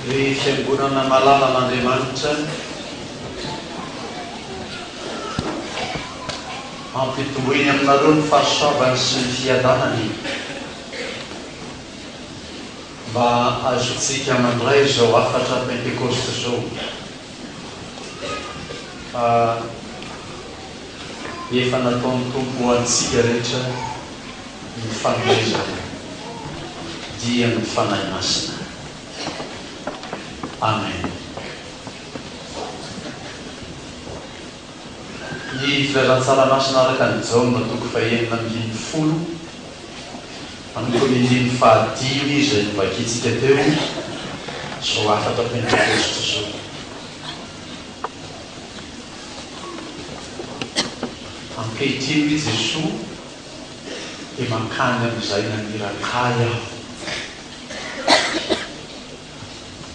Ny Fiangonana malalan'Andriamanitra hampitomboiny aminareo ny fahasoavany sy ny fiadanany mba azontsika mandray izao hafatra Pentekosta izao. Efa nataon'ny Tompo ho antsika rehetra ny fanomezana dia ny Fanahy Masina. Amen. Ny Filazantsara Masina araka an'i Jaona toko fahenina ambin'ny folo manomboka amin'ny andininy fahadimy izay novakintsika teo izao hafatra pentekosty izao. Ankehitriny, hoy Jesoa, dia mankany amin'izay naniraka Ahy Aho.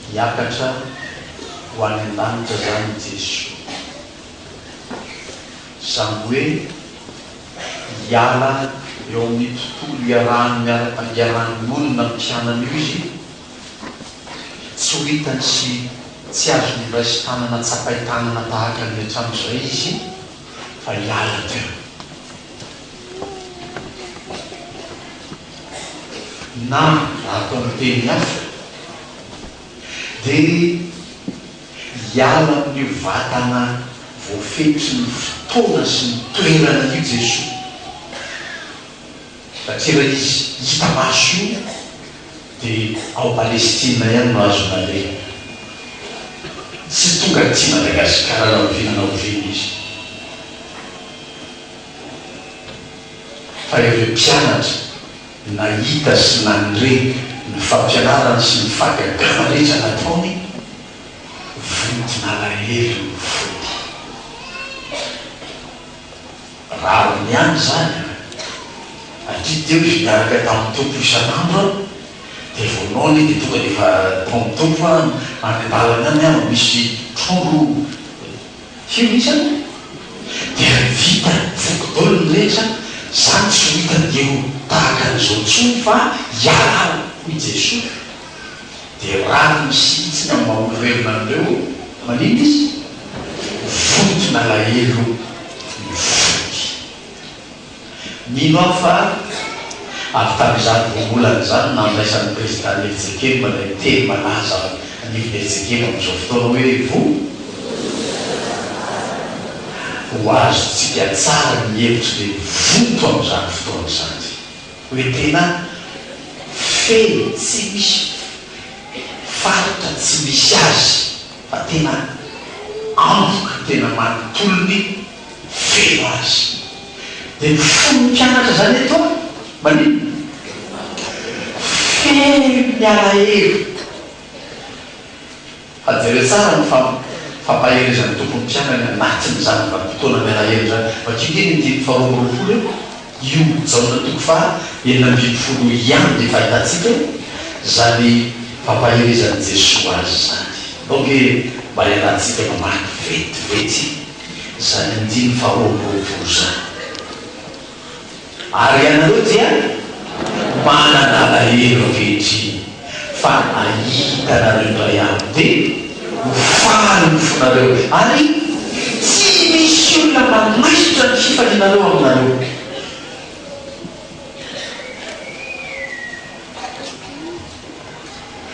Hiakatra ho any an-danitra izany i Jesoa. Izany hoe hiala eo amin'ny tontolo iarahan'ny olona mpianany io Izy. Tsy ho hitany sy tsy azony iray sy tanana tsapain tanana tahaka ny hatrany izay izy fa hiala teo. Na raha atao amin'ny teny hafa dia hiala amin'io vatana voafetry ny fotoana sy ny toerana io Jesoa. Satria raha izy hita maso io dia ao Palestina ihany no azo naleha. Tsy tonga aty Madagasikara na oviana na oviana izy. Fa ireo mpianatra nahita sy nandre ny fampianarany sy ny fahagagana rehetra nataony, vonton'alahelo ny fony. Rariny ihany izany an! Aty teo izy niaraka tamin'ny Tompo isan'andro an! Dia vao noana iny dia tonga dia efa tao amin'ny Tompo an! Any an-dalana any an! Misy trondro firy mihitsy an! Dia vita, voky daholo ny rehetra! Za tsy ho hitan'ireo tahaka an'izao intsony fa hiala aho! hoy Jesoa. Dia raha ny misitsy ny amin'ny maha olovelona an'ireo, maninona izy? Vonto nalahelo ny fony. Mino aho fa avy tamin'izany rongolana izany nandraisan'ny Prezidà Nyetzekemba ilay teny malaza ao anivon'i Nyetzekemba amin'izao fotoana hoe, Vonto. Ho azontsika tsara ny hevitry ilay vonto amin'izany fotoana izany. Hoe tena feno tsy misy faritra tsy misy azy fa tena anvoka tena manontolony feno azy. Dia ny fon'ny mpianatra izany eto maninona? Feno ny alahelo. Fa jereo tsara ny fampaherezan'ny Tompo ny mpianany anatin'izany vanim-potoana mialahelo izany. Vakio anie ny andininy faharoa amby roapolo eo, io Jaona toko faha enina ambin'ny folo io ihany dia efa ahitantsika izany fampaherezan'i Jesoa azy izany. Alao ange mba iarahantsika mamaky vetivety izany andininy faharoa amby roapolo izany. Ary ianareo dia manana alahelo ankehitriny, fa ahita anareo indray andro, dia ho faly ny fonareo, ary tsy misy olona manaisotra ny fifalianareo aminareo.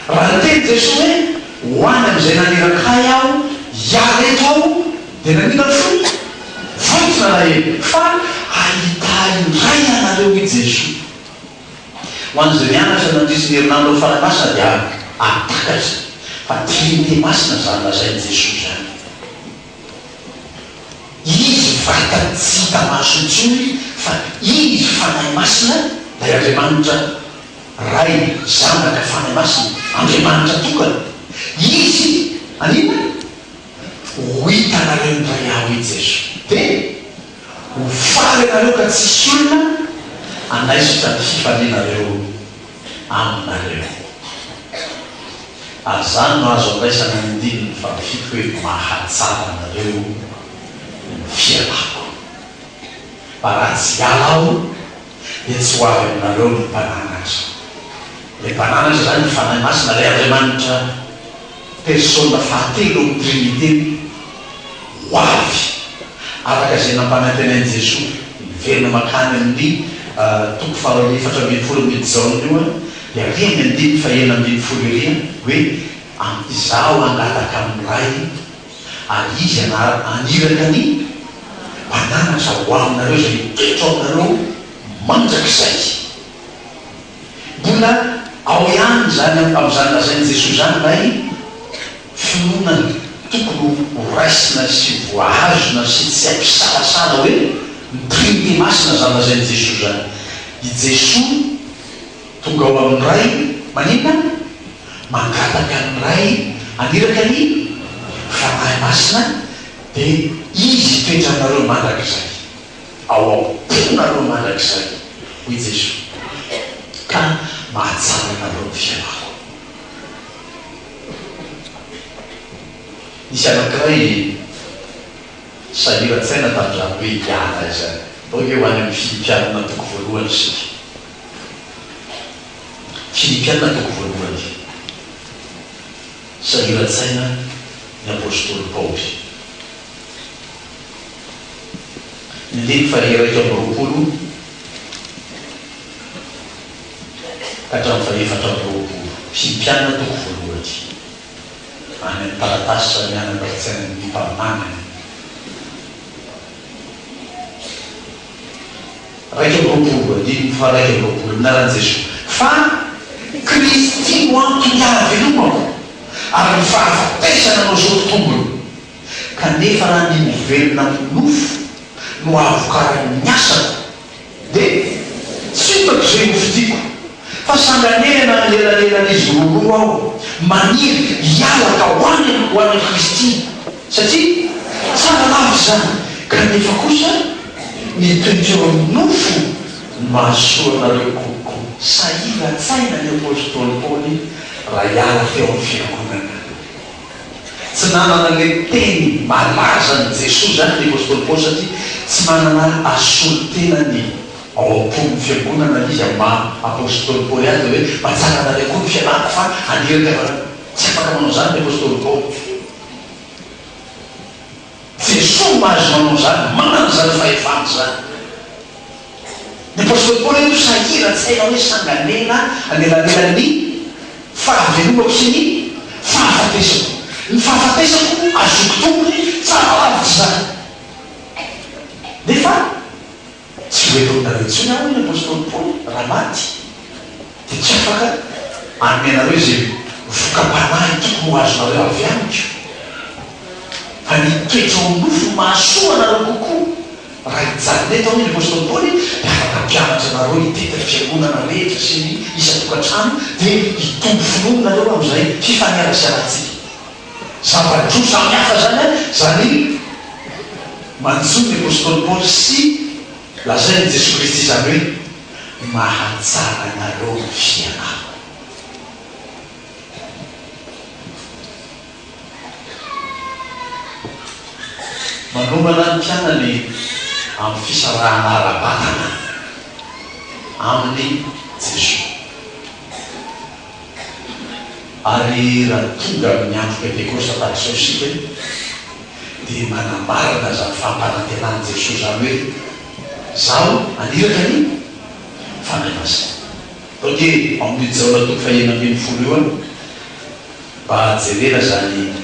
Raha niteny Jesoa hoe, Ho any amin'izay naniraka Ahy Aho, hiala eto Aho, dia nanina ny fony? Vonjy nalahelo, fa hahita Ahy indray ianareo, hoy Jesoa. Ho an'izay mianatra nandritry ny herinandro ny Fanahy Masina dia ahatakatra fa Trinite Masina izany lazain'i Jesoa izany. Izy vata tsy hita maso intsony fa Izy Fanahy Masina, ilay Andriamanitra. Ray, Zanaka, Fanahy Masina, Andriamanitra tokana. Izy, anina? Ho hitanareo ny Ray Aho, hoy Jeso. Dia, ho faly ianareo ka tsy hisy olona hanaisotra ny fifalianareo aminareo. Ary izany no azo andraisana ny andininy fahafito hoe mahatsara anareo ny fialako. Fa raha tsy hiala Aho. dia tsy ho avy aminareo ny mpananatra. Ilay mpananatra izany ny Fanahy Masina, ilay Andriamanitra persona fahatelo ao amin'ny Triniteny ho avy araka izay nampanantena an'i Jesoa. Miverina mankany amin'ny toko fahaefatra ambin'ny folo amin'io Jaona io dia ary amin'ny andininy fahenina ambin'ny folo ery hoe, Izaho hangataka amin'ny Ray, Ary Izy hanara any iraka ny banana sa ho aminareo izay mitoetra ao aminareo mandrakizay. Mbola ao ihany izany amin'izany lazain'i Jesoa izany ilay finoana tokony ho raisina sy voahazona sy tsy ampisalasala hoe ny Trinite Masina izany lazain'i Jesoa izany. I Jesoa. Tonga ao amin'ny Ray, maninona? Mangataka ny Ray haniraka ny Fanahy Masina, dia Izy hitoetra aminareo mandrakizay, ao am-ponareo mandrakizay, hoy Jesoa, ka mahatsara anareo ny fiainako. Nisy anankiray sahiran-tsaina tamin'izany hoe hiala izany. Ndao ve ho any amin'ny fifidianana antoko voalohany isika? Filipiana toko voalohany. Sahiran-tsaina ny apostoly Paoly. Ny andininy faha-iraika amby roapolo ka hatramin'ny faha-efatra amby roapolo. Filipiana toko voalohany. Any amin'ny taratasy samy anana ara-tsainan'ny mpaminany. Iraika amby roapolo, andininy faha-iraika amby roapolo, Ny anaran'i Jesoa, fa Kristy no antony ahavelomako, ary ny fahafatesana no azoako tombony. Kanefa raha ny mivelona amin'ny nofo no ahavokaran'ny asako, dia tsy hotaka izay hofidiako. Fa sanganehana ny elalelan'izy roaroa aho, maniry hiala ka ho any am ho any amin'i Kristy, satria tsara lava izany, kanefa kosa ny toiko eo amin'ny nofo no mahasoa anareo kokoa. Sahiran-tsaina ny apostoly Paoly raha hiala teo amin'ny fiangonana. Tsy nanana ilay teny malazan'i Jesoa izany ny apostoly Paoly, satria tsy manana asolotena ny. Ao am-pon'ny fiangonana izy amin'ny maha apostoly Paoly azy dia hoe, Mba tsaranareo koa ny fianarako fa aniraka avy any. Tsy afaka manao izany ny apostoly Paoly. Jesoa no maha azy manao izany, manana izany fahefana izany. Ny apostoly Paoly eto sahiran-tsaina hoe sanganena anelanelan'ny fahavelomako sy ny fahafatesako. Ny fahafatesako azoko tombony tsara lavitra izany. Nefa. Tsy ho helohinareo intsony aho, hoy ny apostoly Paoly, raha maty, dia tsy afaka hanome anareo izay voka-panahy tokony ho azonareo avy amiko, fa ny toetra ao nofo no mahasoa anareo kokoa. Raha hijanona eto, hoy ny apostoly Paoly, dia afaka hampianatra anareo hitety ny fiangonana rehetra sy ny isan-tokantrano, dia hitombo finoana nareo amin'izay fifaneraserantsika. zava-droa samy hafa izany an, izany manjo ny apostoly Paoly sy lazain'i Jesoa Kristy izany hoe mahatsara anareo ny fianarako. Manomana ny mpianany amin'ny fisarahana ara-batana amin'i Jesoa. Ary raha tonga amin'ny andro pentekosta tahak'izao isika dia manambara an'izany fahampanantenan'i Jesoa izany hoe, Izaho haniraka ny Fanahy Masina. Tao dia ao amin'io Jaona toko fahenina ambin'ny folo io an, mba jerena izany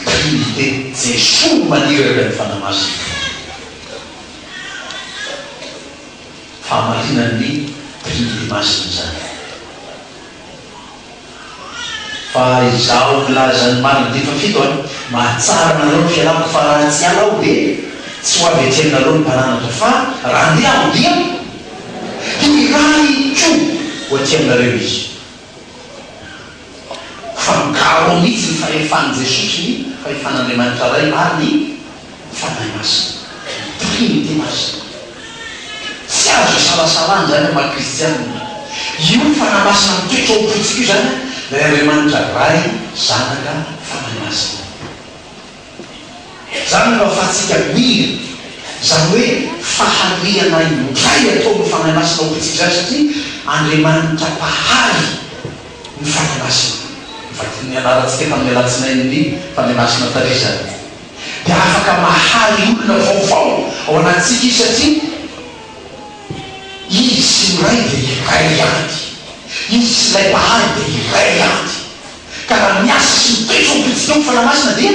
Trinite, Jesoa no maniraka ny Fanahy Masina. Fahamarinan'ny Trinite Masina izany. Fa izaho mpilaza ny marina dia efa fito an! Mahatsara anareo ny fialako fa raha tsy hiala aho dia tsy ho avy ety aminareo ny taranako fa raha handeha aho dia hiray koa ho aty aminareo izy. Fa migaro mihitsy ny fahefan'i Jesosy, ny fahefan'Andriamanitra Ray ary ny. ny Fanahy Masina, ny Trinite Masina. Tsy azo isalasalana izany amin'ny maha kristianina. Io Fanahy Masina mitoetra ao am-pontsika io izany ilay Andriamanitra Ray, Zanaka, Fanahy Masina. Izany no ahafahantsika mino izany hoe fahariana indray ataon'ny Fanahy Masina ao am-pontsika izany satria Andriamanitra Mpahary ny Fanahy Masina. Ny anarantsika tamin'ny alatsinain'ny Fanahy Masina tary izany. dia afaka mahaly olona vaovao ao anatintsika izy satria Izy sy ny Ray dia iray ihany. Izy sy Ilay Mpahary dia iray ihany. Ka raha miasa sy mitoetra ho mpijinio ny Fanahy Masina dia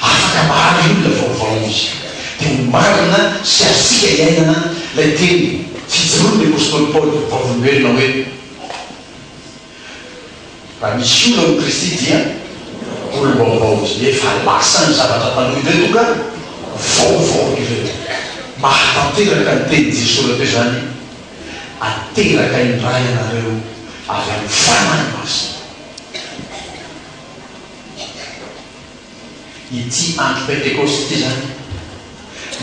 afaka mahaly olona vaovao Izy. Dia ho marina sy azontsika iainana ilay teny fijoroan'ny apostoly Paoly vavolombelona hoe. Raha misy olona amin'i Kristy dia olom-baovao izy. Efa lasa ny zavatra taloha ireo tonga vaovao ireo. Mahatanteraka ny tenin'i Jesoa rahateo izany, Ateraka indray ianareo avy amin'ny Fanahy Masina. Ity andro Pentekosta ity izany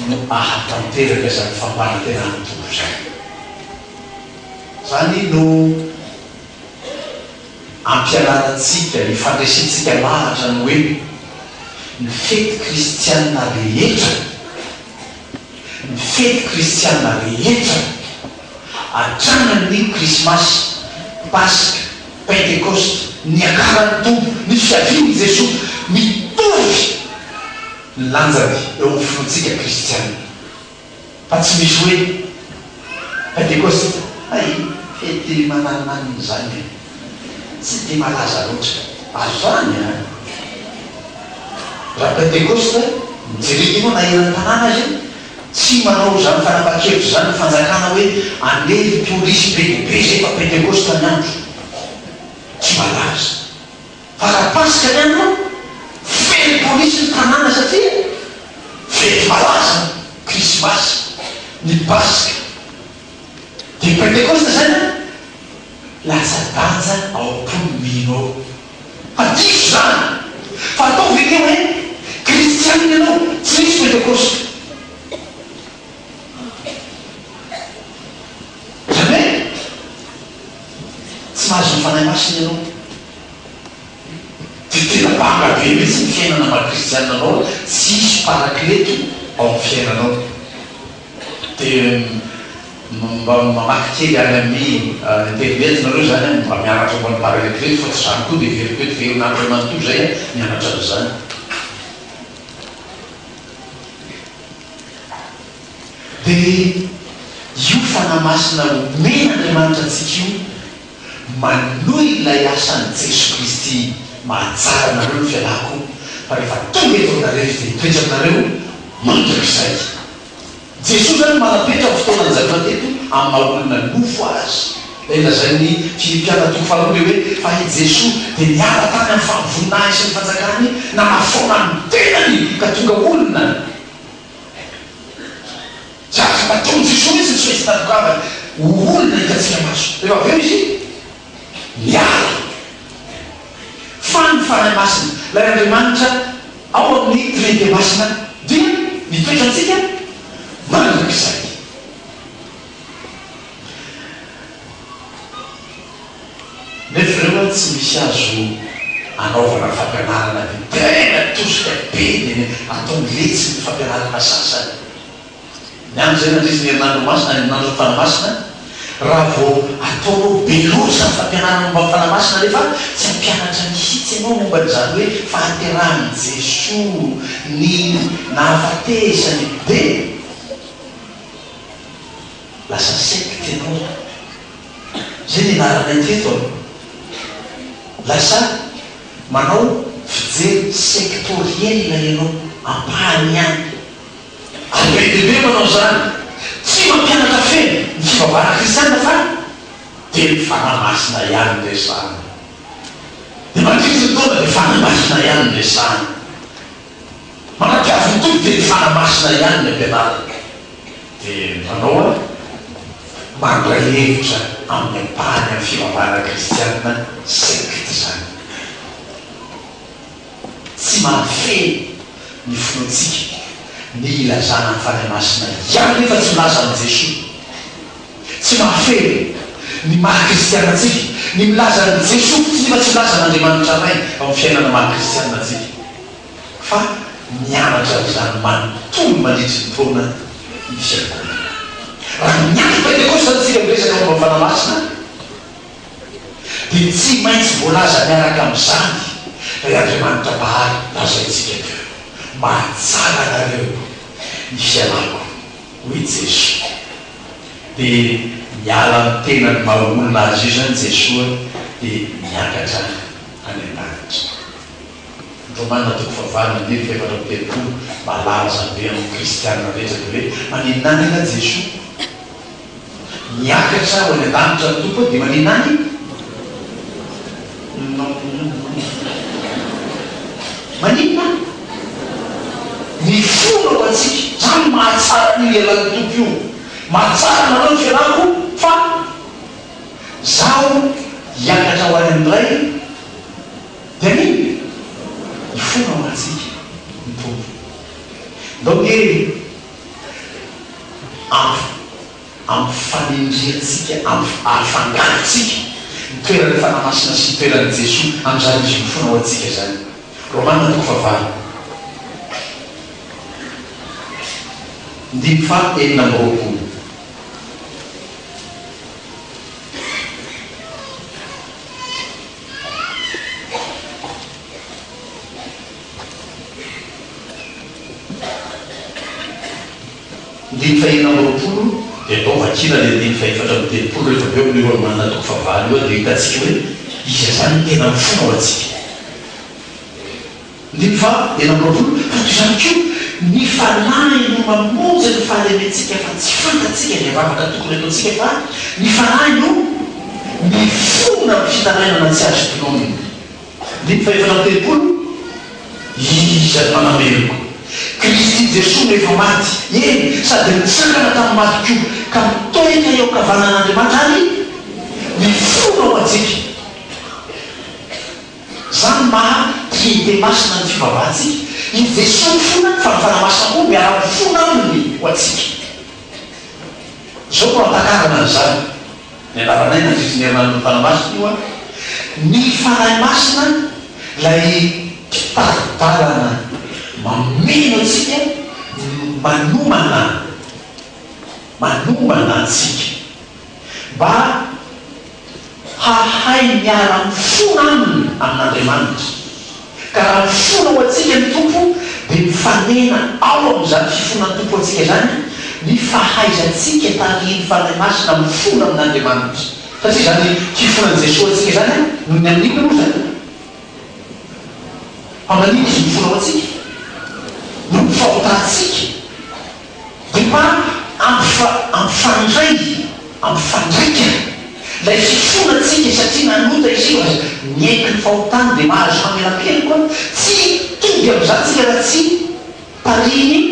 no ahatanteraka izany fampanantenana tokana izany. Izany no ampianarantsika, hifandresentsika lahatra ny hoe ny fety kristiana rehetra, ny fety kristiana rehetra, hatramin'ny Krismasy, Paska, Pentekosta, Niakaran'ny Tompo, ny Fiavian'i Jesoa, mitovy ny lanjany eo amin'ny finoantsika kristiana. Fa tsy misy hoe Pentekosta na i fety mananonanona izany e! Tsy dia malaza loatra. Azo zany an! Raha Pentekosta, mijery hino na hiran'ny tanàna aza e! Tsy manao izany fanapahan-kevitra izany ny fanjakana hoe andevo polisy be dia be izay fa Pentekosta ny andro. Tsy malaza. Fa raha Paska ny andro feno polisy ny tanàna satria fety malaza ny Krismasy, ny Paska, dia Pentekosta izany an! Latsa-danja ao am-pon'ny mino ao. Fa diso izany! Fa atao ve ny hoe Kristianina ianao tsy misy Pentekosta? Jamais! Tsy mahazo ny Fanahy Masina ianao. Dia tena banga be mihitsy ny fiainana maha kristiana anao tsisy paraklety ao amin'ny fiainanao. Dia mba mamaky kely any amin'ny internet nareo izany an, mba mianatra momba ny paraklety fa tsy izany koa dia heveriko eto velona andro manontolo izay an, mianatra an'izany. Dia io fanahy masina omen'Andriamanitra antsika io, Manohy ilay asan'i Jesoa Kristy mahatsara anareo ny fialako, fa rehefa tonga eto aminareo Izy dia hitoetra aminareo mandrakizay. Jesoa izany manapetra ny fotoana nijanonany teto amin'ny maha olona nofo Azy. Ilay lazain'ny Filipiana toko faharoa dia hoe, Fa i Jesoa dia niala tany amin'ny fahavononahiny sy ny fanjakany, nanafoana ny tenany ka tonga olona. Jadona matoa ny Jesoa mihitsy tsy misy tandrok'ambany ho olona hitantsika maso. Rehefa avy eo Izy miala. Fa ny Fanahy Masina, ilay Andriamanitra ao amin'ny Trinite Masina dia mitoetra amintsika mandrakizay. Nefa ireo an tsy misy azo anaovana fampianarana dia tena tosika be dia ataony letsy ny fampianarana sasany. Ihany izay nandritry ny herinandro masina, herinandron'ny Fanamasina, raha vao ataonao be loatra ny fampianarana momba ny Fanamasina nefa tsy hampianatra mihitsy ianao momba an'izany hoe fahaterahan'i Jesoa, ny nahafatesany, dia lasa secte ianao. Izay no ianaranay teto an! Lasa manao fijery sectoriel ianao, ampahany ihany. Ady be dia be manao izany. Tsy mampianatra feno ny fivavahana kristiana fa dia ny Fanahy Masina ihany no resahana. Dia mandritry ny taona dia Fanahy Masina ihany no resahana. Manampiavy ny Tompo dia ny Fanahy Masina ihany ny ampianarina. Dia ny mpanao ady mandray hevitra amin'ny ampahany amin'ny fivavahana kristiana, secte izany. Tsy mahafehy ny finoantsika ny ilazana ny Fanahy Masina ihany nefa tsy milaza an'i Jesoa. Tsy mahafehy ny maha kristiana antsika ny milaza an'i Jesoa fotsiny nefa tsy milaza an'Andriamanitra Ray ao amin'ny fiainana maha kristiana antsika. Fa mianatra an'izany manontolo mandritry ny taona ny fiangonana. Raha miandry Pentekosta aza isika miresaka momba ny Fanahy Masina, dia tsy maintsy voalaza miaraka amin'izany, Ry Andriamanitra Bahaly, lazaintsika teo, Mahatsara anareo ny fialako, hoy i Jeso. Dia miala amin'ny tenan'ny maha olona azy io izany Jesoa dia miakatra any an-danitra. Ny Romana toko fahavalo andininy fahefatra amby telopolo malaza be amin'ny kristiana rehetra dia hoe, Maninona any angaha Jesoa? Miakatra ho any an-danitra ny Tompo dia maninona any? Maninona any? Mifona ho antsika. Izany no mahatsara io lehilahin'ny Tompo io. Mahatsara anareo ny fianahako fa Izaho hiakatra ho any amin'ny Ray dia maninona? Mifona ho antsika ny Tompo. Ndao nge! Avy amin'ny fanendrehantsika, avy ary fangarontsika ny toeran'ny Fanahy Masina sy ny toeran'i Jesoa amin'izany Izy mifona ao antsika izany. Romana toko fahavalo, ndimy faha enina amby roapolo. Andininy faheenina amby roapolo dia atao vakina ilay andininy fahefatra amby telopolo rehefa avy eo amin'io Romana toko fahavalo io dia ho hitantsika hoe iza izany no tena mifona ho antsika. Andininy faha enina amby roapolo, Tato izany koa ny Fanahy no mamonjy ny fahalementsika fa tsy fantatsika ny vavaka tokony ataontsika fa ny Fanahy no mifona amin'ny fitarainana tsy azo tononina. Ny mpivavaka ny tempoly, iza no hanameloko? Kristy Jesoa no efa maty, eny, sady nitsangana tamin'ny maty koa, ka mitoetra eo ankavanan'Andriamanitra ary mifona ho antsika. Izany no maha Trinite Masina ny fivavahantsika, i Jesoa mifona fa ny Fanahy Masina koa miara-mifona Aminy ho antsika. Izao no hantakarana an'izany. Nianaranay ny ankizy ny herinandron'ny Fanahy Masina io an! Ny Fanahy Masina ilay mpitari-dalana mameno antsika manomana manomana antsika mba hahay miara-mifona aminy amin'Andriamanitra. Ka raha mifona ho antsika ny Tompo dia mifanena ao amin'izany fifonan'ny Tompo ho antsika izany ny fahaizantsika tarihin'ny Fanahy Masina mifona amin'Andriamanitra. Satria izany fifonan'i Jesoa ho antsika izany no ny amin'inona moa izany? Fa manina Izy mifona ho antsika? Noho ny fahotantsika. Dia mba ampifa, ampifandray, ampifandraika ilay fifoana tsika satria nanota izy io ary miaiky ny fahotany dia mahazo famelan-keloka hoe tsy hitovy amin'izany tsika raha tsy tarihin'ny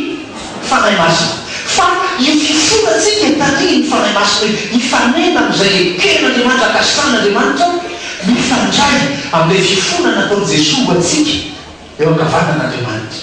Fanahy Masina. Fa io fifoana tsika tarihin'ny Fanahy Masina io, hifanena amin'izay eken'Andriamanitra, ankasinan'Andriamanitra, mifandray amin'ilay fifoana nataon'i Jesoa ho antsika eo ankavanan'Andriamanitra.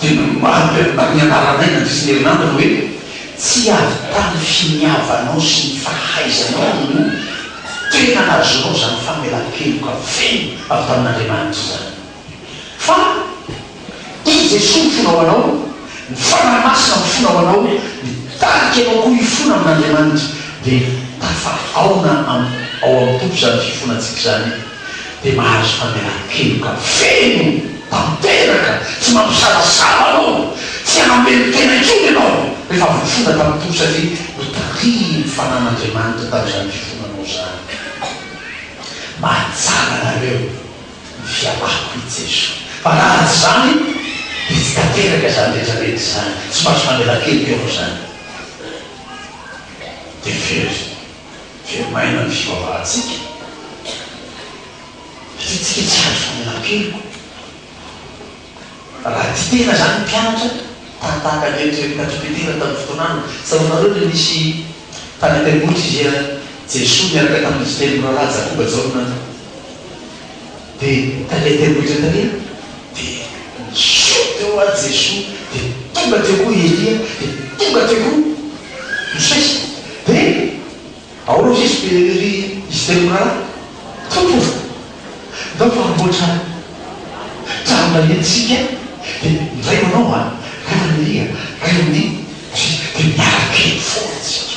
dia ny mibarika amin'ny anaranay mandritra ny herinandro no hoe, Tsy havitan'ny finiavanao sy ny fahaizanao no tena nahazoanao izany famelan-keloka feno avy tamin'Andriamanitra izany, fa i Jesoa mifona ho anao, ny Fanahy Masina mifona ho anao, mitarika anao koa hifona amin'Andriamanitra, dia tafahaona ao amin'ny Tompo izany fifonantsika izany. dia mahazo famelan-keloka feno tanteraka, tsy mampisalasala anao, tsy hamelon-tena intsony ianao rehefa voafona tamin'ny Tompo satria notarihin'ny Fanahin'Andriamanitra tamin'izany fifonanao izany. Mahatsara anareo ny fialako i Jesoa, fa raha tsy izany dia tsy tanteraka izany rehetrarehetra izany, tsy mahazo famelan-keloka ianao izany. Dia very. dia maina ny fivavahantsika satria tsika tsy azo fanelankeloka. Raha tia tena izany ny mpianatra, tany tahaka ny eto eto Ankatso Petera tamin'ny fotoanany, tsaroanareo ilay nisy tany an-tendrombohitra izay Jesoa niaraka tamin'izy telo mirahalahy Jakoba, Jaona, Dia tania teny rehetra tania, dia niseho teo ary Jesoa, dia tonga teo koa i Elia, dia tonga teo koa Mosesy, dia ao aloha izy be ry izy telo mirahalahy, Tompo o, ndao fa hamboatra tranona eny isika, dia ndray ho anao an, ray amin' Elia, ray amin' i Mosesy, dia miaraka eny foana isika.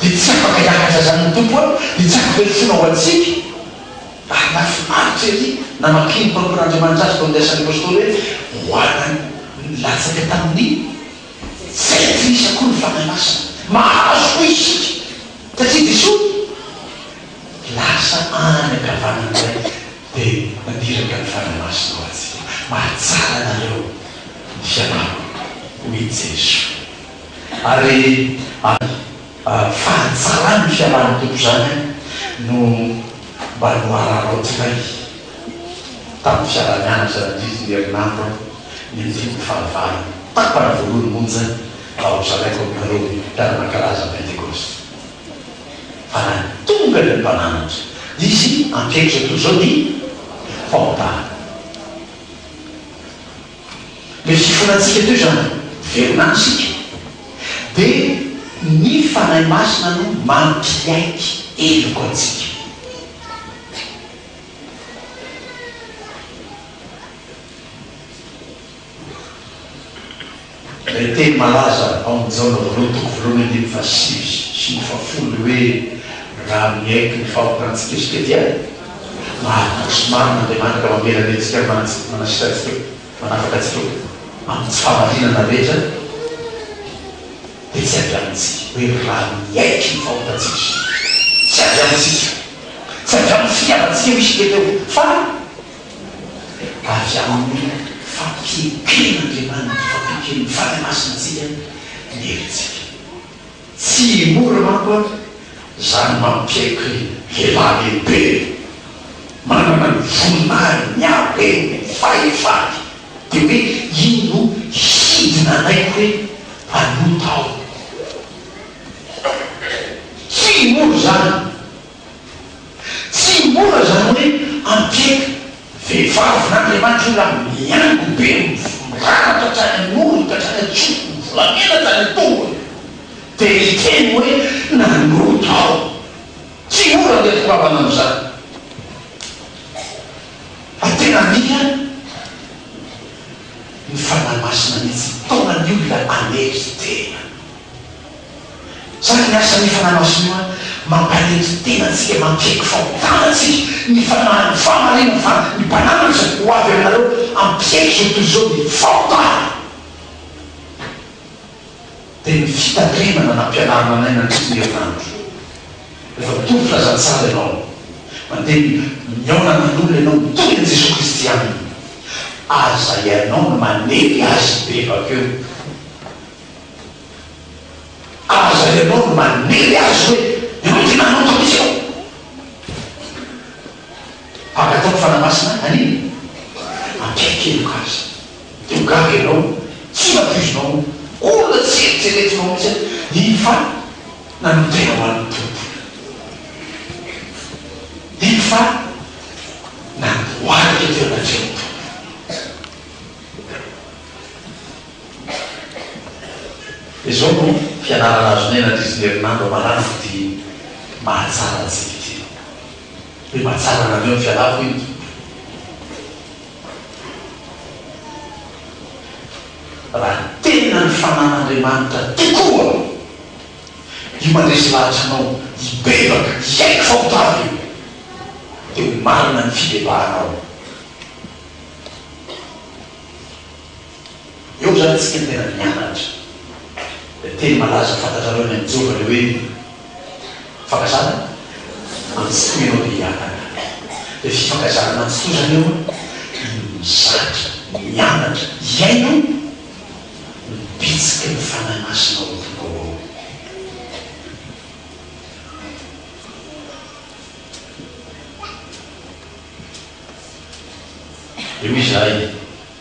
dia tsy afaka hihaja izany ny Tompo aho dia tsy afaka hifoana ho antsika ary nahafinaritra ery namaky ny mpampino Andriamanitra azy tao amin'ny asan'ny Apostoly hoe ho ana ny latsaka tamin'ny tsy aitrisa koa ny Fanahy Masina mahazo koa isika satria Jesoa lasa any ankavanany indray dia naniraka ny Fanahy Masina ho antsika mahatsara anareo ny fianahako hoy Jesoa. Ary fahatsaran'ny fiarahan'ny Tompo izany no mba nohararaotinay tamin'ny fiaraha-mianatra nandidy ny herinandro ny andininy fahavalo, tapany voalohany monja ao Zalaiko aminareo mpiara-mankalaza Pentekosta. Fa raha tonga ny Mpananatra, dia Izy hampiakatra toy izao ny fahotana. Dia fifona antsika teo izany, velona any isika. Dia ny Fanahy Masina no mampiaiky heloka antsika. Ilay teny malaza ao amin'ny Jaona voalohany toko voalohany andininy fahasivy sy ny fahafolo hoe, Raha miaiky ny fahotana antsika isika dia. Marina sy marina Andriamanitra mamelany antsika ary manasitra manasitra antsika manafaka antsika amin'ny tsy fahamarinana rehetra dia tsy avy amintsika hoe raha miaiky ny fahotantsika izy tsy avy amintsika tsy avy amin'ny fitiavantsika misy dia teo fa avy amin'ny fampieken' Andriamanitra fampieken' ny Fanahy Masina antsika ny herintsika. Tsy mora manko ary izany mampiaiky ny lehilahy lehibe manana ny voninahiny ny hareny ny fahefany dia hoe iny no hidina anaiky hoe mpanota aho. Tsy mora izany Tsy mora izany hoe anteky vehivavy n'Andriamanitra olona miango be mirandrana hatrany an-orony ka hatrany an-tsofiny, volamena hatrany an-tongony, dia hiteny hoe nanota aho. Tsy mora anteky vehivavy hanao izany. Ary tena mila ny Fanahy Masina mihitsy mitaona ny olona hanery tena. Zany ny asan'ny Fanahy Masina, mampanenjy tena antsika, mampihaiky fahotana antsika, ny Fanahy, ny fahamarinana fa ny mpanandrana izay ho avy aminareo hampihaiky izao tontolo izao ny fahotana dia ny fitandremana nampianarina anay nandritry ny herinandro. Rehefa mitovy filazantsara ianao, mandeha ny mihaona amin'olona ianao mitory an'i Jesoa Kristy aminy, aza ianao no manely azy be vakeo. Aza ianao no manery azy hoe ianao tena hanao toy izao. Angataho ny Fanahy Masina hanino? Ampiankeloka azy. Teo gaga ianao, tsy nampoizinao, olona tsy eritreretinao mihitsy aza ny fa nanotena ho an'ny Tompo. Iny fa nandohalika teo anatrehan'ny Tompo. Izao no fianarana azonay nandritry ny herinandro amarana ity mahatsara antsika ity, Hoe mahatsara anareo ny fialako hoy ny Tompo. Raha tena ny Fanan'Andriamanitra tokoa io mandresy lahatra anao hibebaka hiaiky fa ho tavy io, dia ho marina ny fibebahanao. Eo izany antsika no tena mianatra ilay teny malaza fantatrareo ny an'i Joba, ilay hoe Fankazana antsitoha ianao dia hihataka. Ilay fifankazana antsitoha izany eo no mizatra, mianatra, hihaino ny bitsiky ny Fanahy Masina ao am-ponao ao. Eo izahay.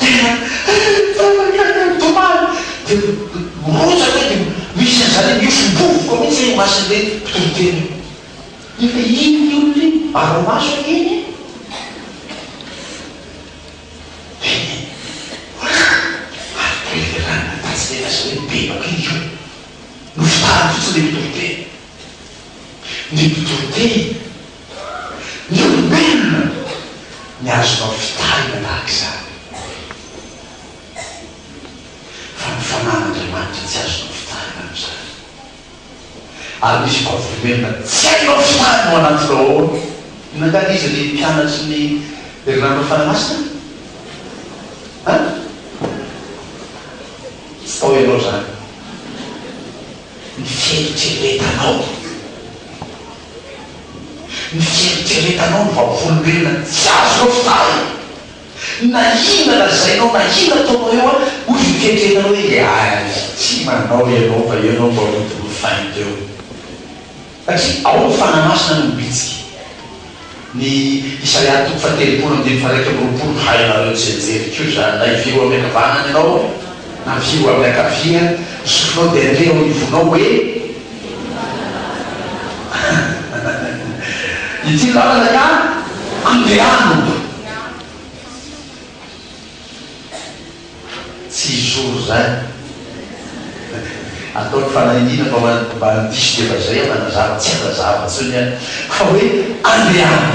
Dia rehefa mankany amin'ny dômady dia mirotsaka eo dia misy an'izany miofom-bovoka mihitsy eo imason'ilay mpitoriteny eo. Nefa iny ny olona iny, ara-maso anie iny e! Dia ary dia lany ny tatsy dia lasa hoe bebaka iny koa. Nofitahany fotsiny ilay mpitoriteny. Ny mpitoriteny. ny olombelona ny azonao fitarina tahaka izany, fa ny Fanahin'Andriamanitra tsy azonao fitarina amin'izany. Ary misy koa velona tsy hainao fitarina ao anatinao ao an. Inona angaha ilay izy ry mpianatry ny Herinandron'ny Fanahy Masina? An? Tsy tao ianao izany. Ny fieritreretanao. Ny fieritreretanao ny vavolombelona tsy azonao faly. Na inona lazainao na inona ataonao eo an, hoy ny fieritreretanao hoe le azy tsy manao ianao fa ianao vao hidorofainy teo. Satria ao ny fanahy masina no mibitsika. Ny Isaia toko fahatelopolo andininy faharaika amby roapolo Hainareo ny tsianjery koa izany, na hivily ho amin'ny ankavanana ianao, na hivily ho amin'ny ankavia, ny sofinao dia handeha eo anivonao hoe, Ity ny lalana ka andehano. Tsy zoro izany. Ataony fanahiniana fa mba handiso dia mba izay aho nanazava, tsy hanazava intsony aho fa hoe andehana.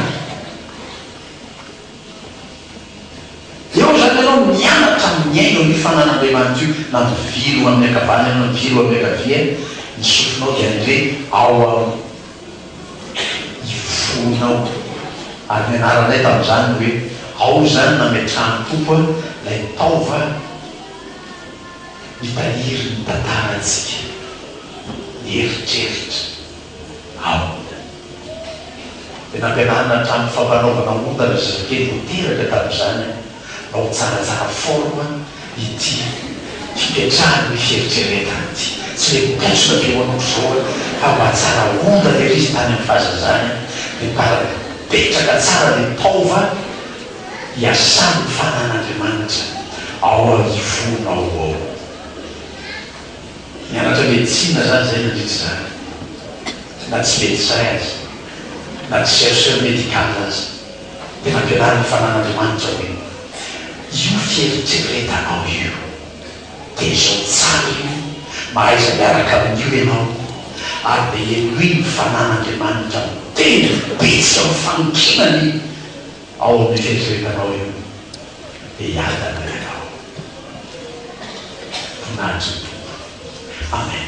Eo izany ianao mianatra mihaino an'io fanan'Andriamanitra io, na mivily ho amin'ny ankavanana na mivily ho amin'ny ankavia, ny sofinao dia andeha ao amin'ny. Hifoha ao. Ary nianaranay tamin'izany ny hoe, ao izany nametrahan'ny Tompo ilay taova hitahiry ny tantarantsika, ny eritreritra, ao. Dia nampianarina hatramin'ny fampanaovana ondana zazakely ho teraka tamin'izany aho. Ao tsaratsara forme ity fipetrahan' ny fieritreretana ity. Tsy le mibontsina be ohatr' izao an, fa mba tsara ondana ery izy tany am fahazazany an, de par mipetraka tsara le taova iasan' ny fanan' Andriamanitra ao am ivonao ao. Nianatra medecine za zay nandritra izany, na tsy medecin aza, na tsy chercheur medical aza. Dia nampianariny ny fanan'Andriamanitra hoe, Io fieritreretanao io, dia izao tsara io, mahaiza miaraka amin'io ianao, ary dia henoy ny fanan'Andriamanitra miteny vitsy amin'ny fanonkinany ao amin'ny fieritreretanao io, dia hiadana ianao. Voninahitry ny Tompo. Amen.